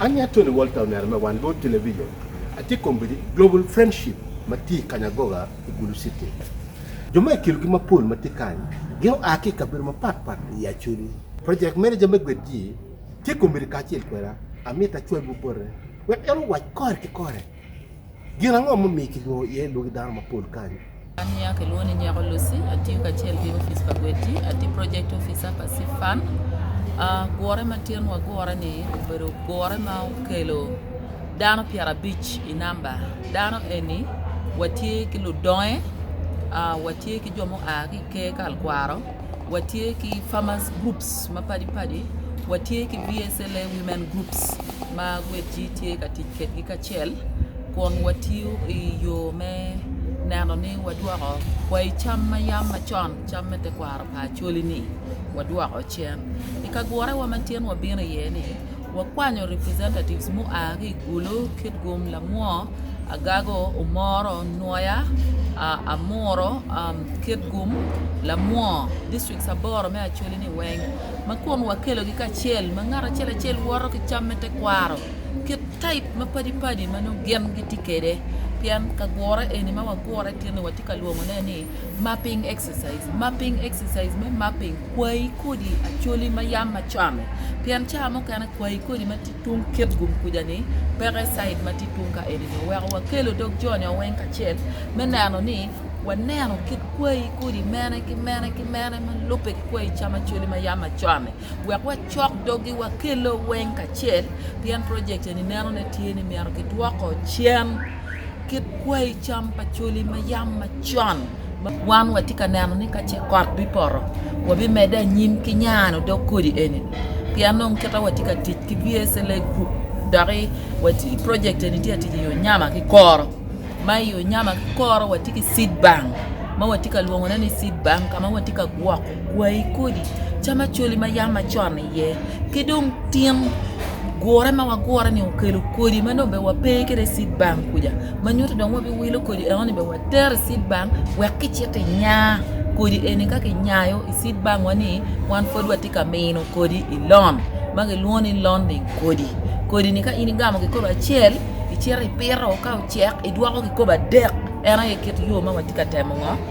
Anya Tony Walter oneno me wan lwod television atye kombedi Global Friendship ma tye i Kanyagoga i Gulu City. Jo ma i kilogi mapol ma tye kany gin oa ki i kabedo mapat pat i Acholi. Project Manager me gwed ji tye kombedi kacel kweda, amito acwalwu bote wek en owac kore ki kore. Gin ango ma omiyo kilwongo iye lwaki dano mapol kany? An nya kilwongo ni Nyeko Lucy, atiyo kacel ki opic pa Gwedgi, atye project officer pa Seed Fund. Gure ma tyen wagure ni obedo gure ma okelo dano pyerabic i namba. Dano eni watye ki ludonge, watye ki jo mua ki i ker kalkwaro. Watye ki farmers groups mapadi padi, watye ki BSLA women groups ma gwecci tye ka tic kwedgi kacel kun watiyo i yo me neno ni wadwoko kwai cam ma yam macon cam me tekwaro pa Acholi ni wadwoko cen. I kagurewa ma tin wabino iye ni, Wakwanyo representatives mua ki i Gulu, Kitgum, Lamwo, Agago, Omoro, Nwoya, Amuru, Kitgum, Lamwo, districts aboro me Acholi ni weng ma kun wakelogi kacel ma ngat acel acel woto ki cam me tekwaro ki type ma padi padi ma nongo gin gitye kwede pien kagure eni ma wagure tye ni watye ka lwongone ni mapping exercise. Exercise, Mapping Exercise me mapping kwayi kodi acholi ma yam macame pien cawa mukene kwayi kodi ma tye tung kit gum kuja ni peke side ma tye tung ka eni nyo weko wa kelo dog jo nyo weng kacel me neno ni wa neno kit kwayi kodi mene ki mene ki mene ma lube ki kwayi cam acholi ma yam macame wek wa cok dogi wa kelo weng kacel pien project eni neno ne tye ni myero ki dwoko cen kit kwayi cam pa choli ma yam macon. Wan watye ka neno ni ka ce kot bipoto, wabimedde anyim ki nyano odok kodi eni, pien dong kita watye ka tic ki VSLA Group dok i project eni tye ka tic i yo nyama ki koro. Ma i yo nyama ki koro watye ki seed bank ma watye ka lwongone ni seed bank ka ma watye ka gwoko Gwayi kodi, cam acoli ma yam macon iye, ki dong tin gure ma wagure ni okelo kodi ma dong obed wape kede i cit bank kuca ma nyuto dong wabiwilo kodi eno ni obed watero i cit bank wek kicito inya kodi eni ka kinyayo i cit bank wa ni wan pwod watye ka mino kodi i lon ma kilwongo ni londing kodi, kodi ni ka in igamo kikopo acel icito ipito ka ocek idwoko kikopo adek en aye kit yo ma watye ka temo ngo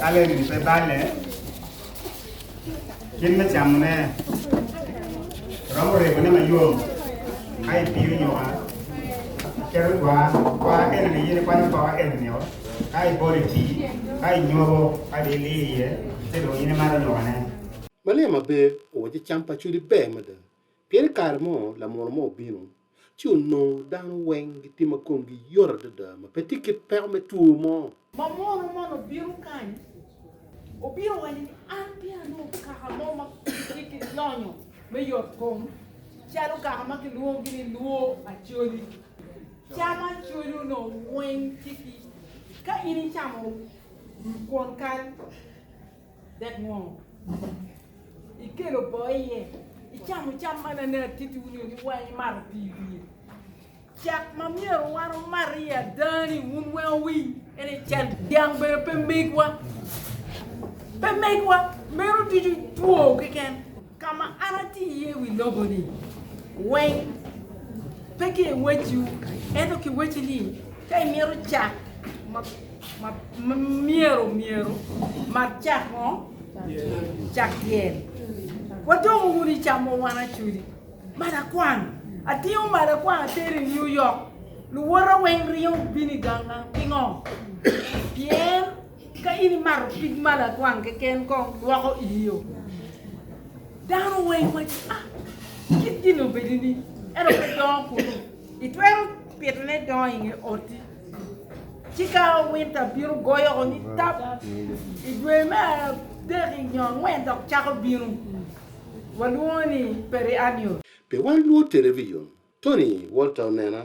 Kaleb-bi pe balle kit me camone, romo regone mayom ka ipiyo nyuka, iketo gwa, gwa eno-ni in ikwanyo poko eno-nio, ka ibolo i tii, ka inyobo, kadi iliyo iye, ci dong in imato nyukane. Malia ma pe owaco cam pa Cudi ber mada. Pien i kare mo lamunu mo obino, ci onongo dano weng gitye ma komgi yot adada, ma pe tye kit peko me two mo. Lamunu man obino kany, obino owaco ni, An peya anongo kaka mo ma tye ki lonyo me yot kom, calo kaka ma kilwongogi ni lwo acoli. Cam acoli onongo weng tye ki, ka in icamo kwon kal. Dek ngo ma ikelo boo iye? Icamo cam ma nene atittiwu nio ni weng imato pii i wiye. Cak ma myero wan wumat iye ada ni wun weng wuwiny ene cal dyang bene pe megwa. Pe megwa. Meno ducu two keken. Ka ma an atye iye i wi lobo-ni weng, pe ki i wecciwu, ento ki wecci ni, ka imito cak ma myero myero, mat cak ngo? Cak dyel. Wadongo wunu i camo wan acodi. Mat akwan, atingo mat akwan atero i New York, luwota weng ringo bino i ganga. Pingo? Pien. Ka in imato pig ma lakwang keken kong lwoko iyio. Dano weng waco, ah, kit gin obedi ni eno pe dongo kunu. Itwero pito ne dongo inge oti. Ci ka winter bino goyo ko ni tap, i dwe me adek i nyo angwen dok cako bino. Walwongo ni periannual. Pe wan lwor television. Tony Walter onena